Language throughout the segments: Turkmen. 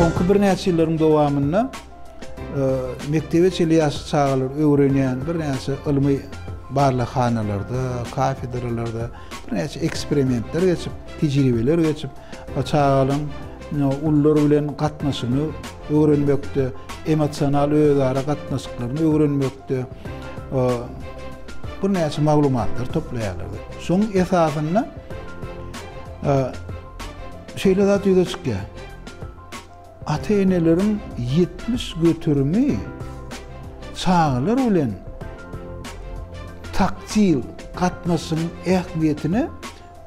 Soňky birnäçe ýyllaryň dowamynda e, mekdebe çenli ýaş çagalar öwrenýän birnäçe ylmy barlaghanalarda, kafedralarda Birnäçe eksperimentler geçip, tejribeler geçip, çagalaryň ulular bilen gatnaşygyny öwrenmekde, emosional özara gatnaşyklaryny öwrenmekde birnäçe maglumatlary toplaýarlar. Şoň esasynda şeýle zat ýüze çykýar. Ata-eneleriň ýetmiş göterimi çagalar bilen taktil gatnaşygyň ähmiýetine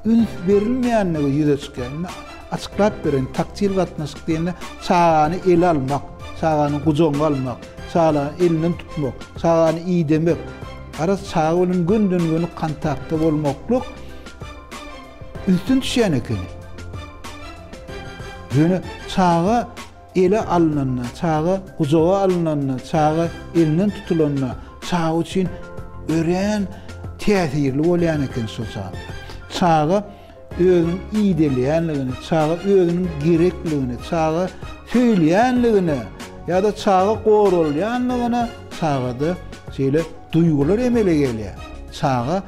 üns berilmeýändigi ýüze çykýar. Indi açyklap bereýin, taktil gatnaşyk diýende çagany ele almak, çagany gujagyňa almak, çagany elinden tutmak, çagany idemek, garaz çaga bilen gönden-göni kontaktda bolmaklyk, Üstün düşýän ekeni. Ýöne çaga ele alnanda, çaga gujaga alnanda, çaga elinden tutulanda çaga üçin örän täsirli bolýan eken şol zatlar. Çaga özüniň ideýleýänligini, çaga özüniň gerekligini, çaga söýülýänligini ýa-da çaga goralýanlygyny çagada şeýle duýgular emele gelýär. Çaga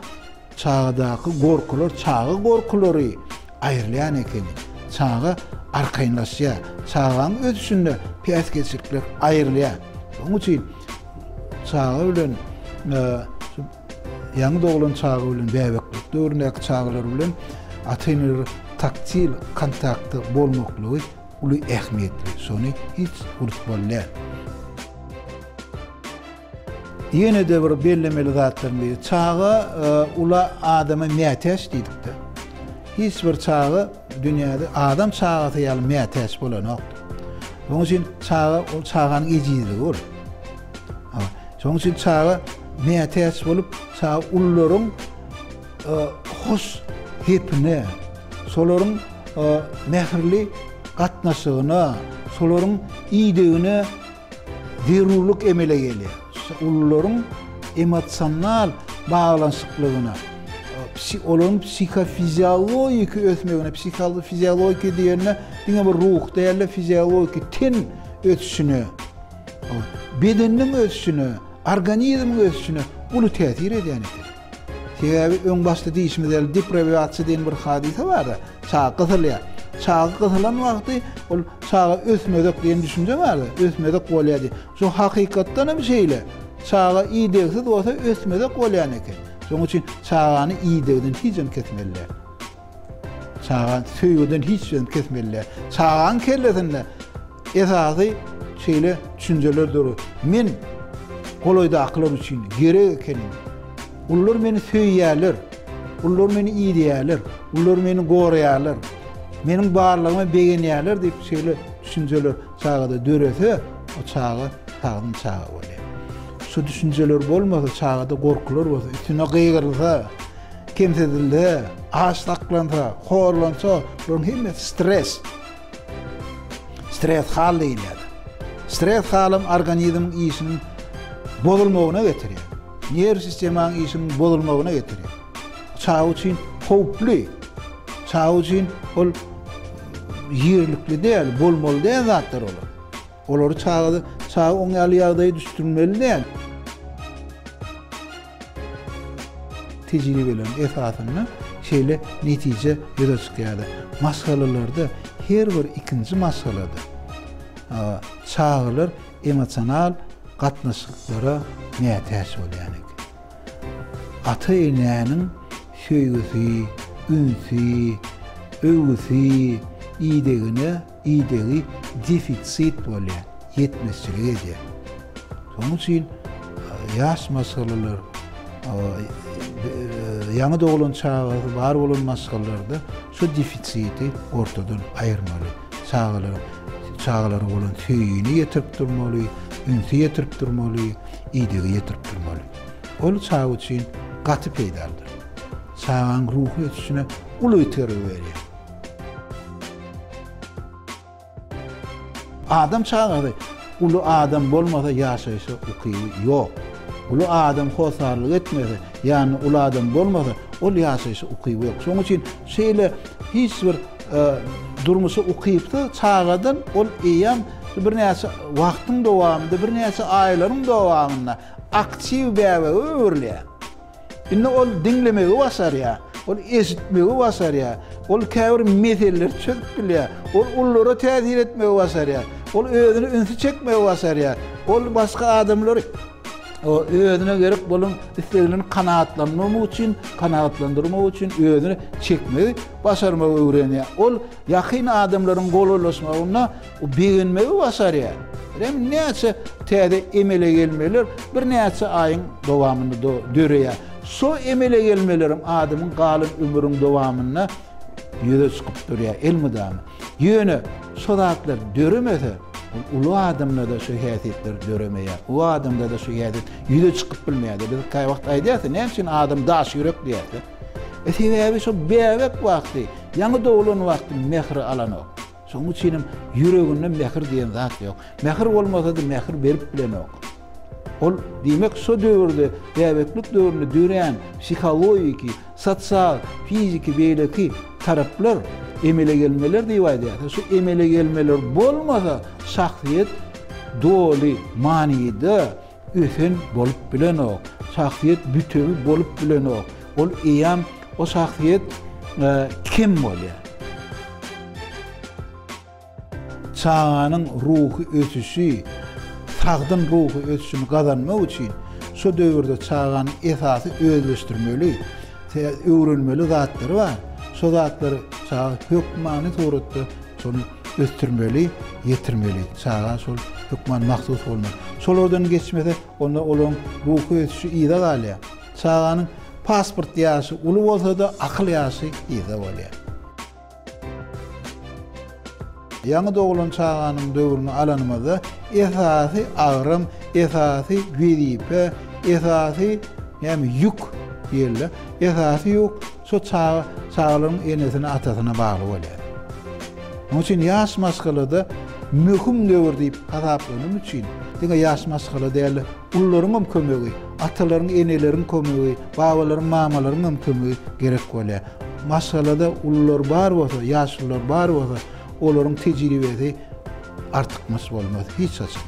Çagadaky gorkular çaga gorkulary aýrylýan ekeni. Çaga arkaýynlaşýar. Çagaň ösüşinde päsgelçilikler aýrylýar. Şonuň üçin çaga bilen ýaňy doglan çaga bilen bäbeklik döwründäki çagalar bilen ata-eneler taktil kontaktda bolmaklygy uly ähmiýetli. Şony hiç unutmaly däl. Ýene-de bir bellemeli zatlaryň biri, çaga ula adama mätäç diýdikde, hiç bir çaga dünýäde adam çagasy ýaly mätäç bolanokdyr. Onuň üçin çaga ol çaganyň ejizligi bolup. Şonuň üçin çaga mätäç bolup, çaga ulularyň hos hepine, şolaryň mähirli gatnaşygyna, şolaryň idegine Zerurlyk emele gelýär. Ulularyň emosional baglanyşyklygyna, olaryň psihofiziologiki ösmegine, psihofiziologiki diýende diňe bir ruh däl-de, fiziologiki, ten ösüşine, bedeniň ösüşine, organizmiň ösüşine uly täsir edýän eken. Sebäbi öň başda diýişimiz ýaly deprewýasiýa diýen bir hadysa bar-da, çaga gysylýar. Çaga gysylan wagty ol çaga ösmezek diýen düşünje bar-da, ösmezek bolýar diýip. Şu hakykatdan hem şeýle. Çaga idegsiz bolsa ösmezek bolýan eken. Şonuň üçin çagany idegden hiç hem kesmeli däl. Çaga söýgüden hiç sözüni kesmeli. Çagaň kellesinde esasy şeýle düşünjeler dur. Men golaýdakylar üçin gerek ekenim. Olar meni söýýärler. Olar meni iýýärler. Olar meni goraýarlar. Meniň barlygyma begenýärler diýip şeýle düşünjeler çagada dörese, o çaga sagdyn çaga bolýar. Şu düşünjeler bolmasa, çagada gorkular bolsa, üstüne gygyrylsa, Kemsidilse, aç saklansa, horlansa, bularyň hemmesi stres. Stres hal diýilýär. Stres halam organizmiň işiniň bozulmagyna getirýär. Nerw sistemaň işiniň bozulmagyna getirýär. Çaga üçin howply. Çaga üçin ol ýerlikli däl, bolmaly däl zatlar olar. Olary çagada çaga oň ýaly ýagdaýa düşdürmeli däl. Tejribeleriň esasynda şeýle netije ýüze çykýardy. Maşgalalarda her bir ikinji maşgalada çagalar emosional gatnaşyklara mätäç bolýan eken. Ata-enäniň söýgüsi, ünsi, öwgüsi, idegine idegi defitsit bolýar, ýetmezçilik edýär. Şonuň üçin ýaş maşgalalar, ýaňy doglan çagasy bar bolan maşgalalarda şu defisiti ortadan aýyrmaly. Çagalara çagalara bolan söýgini ýetirip durmaly, ünsi ýetirip durmaly, idegi ýetirip durmaly. Ol çaga üçin gaty peýdalydyr. Çagaň ruhy ösüşine uly itergi berýär. Adam çagasy uly adam bolmasa ýaşaýşa ukyby ýok. Uly adam hossarlyk etmese, ýanynda uly adam bolmasa, ol ýaşaýşa ukyby ýok. Şonuň üçin şeýle hiç bir durmuşa ukypsyz çagadan ol eýýäm birnäçe wagtyň dowamynda, birnäçe aýlaryň dowamynda aktiw bäbege öwrülýär. Indi ol diňlemegi başarýar, ol eşitmegi başarýar, ol käbir meseleleri çözüp bilýär, ol ullara täsir etmegi başarýar, ol özüne ünsi çekmegi başarýar, ol başga adamlary özüne gerek bolan isleglerini kanagatlandyrmak üçin, kanagatlandyrmak üçin özüne çekmegi başarmagy öwrenýär. Ol ýakyn adamlaryň golaýlaşmagynda O begenmegi başarýar. Rem näçe täze emele gelmeler birnäçe aýyň dowamynda döreýär. Şo emele gelmelerem adamyň galan ömrüň dowamynda ýüze çykyp durýar elmydama. Ýöne şo zatlar döremese, ol uly adamda-da şo häsiýetler döremeýär. Uly adamda-da şo häsiýet ýüze çykyp bilmeýär-de. Biz kaýwagt aýdýas-da, näme üçin adam daş ýürek diýýäs-de. E sebäbi şo bäbek wagty, ýaňy doglan wagty mähri alanok. Şonuň üçinem ýüreginde mähir diýen zat ýok. Mähir bolmasady mähir berip bilenok. Ol diýmek şo döwürde bäbeklik döwründe dörän psihologiki, sosial, fiziki beýleki taraplar emele gelmeler diýip aýdýarys. Şu emele gelmeler bolmasa şahsyýet doly manyda Ösen bolup bilenok. Şahsyýet bütewi bolup bilenok. Ol eýýäm o şahsyýet kim bolýar? Çaganyň ruhy ösüşi, sagdyn ruhy ösüşini gazanmak üçin şu döwürde çaganyň esasy özleşdirmeli, öwrenmeli zatlary bar. Şo zatlary çaga hökmany suratda Şony ösdürmeli, ýetirmeli. Çaga şol hökman mahsus bolmaly. Şolardan geçmese, onda olaryň ruhy ösüşi yza galýar. Çaganyň pasport ýaşy uly bolsa-da, akyl ýaşy yzda bolýar. Ýaňy doglan çaganyň döwrüni alanymyzda, esasy agram, esasy wezipe, esasy näme, ýük diýeli-de, esasy ýük, Şo çaga çagalaryň enesine-atasyna bagly bolýar. Munuň üçin ýaş maşgalada möhüm döwür diýip hasaplanym üçin, diňe ýaş maşgala däl-de, ulularyň hem kömegi, atalaryň, eneleriň kömegi, babalaryň, mamalaryň hem kömegi gerek bolýar. Maşgalada ulular bar bolsa, ýaşulular bar bolsa, olaryň tejribesi artykmaç bolmaz hiç haçan.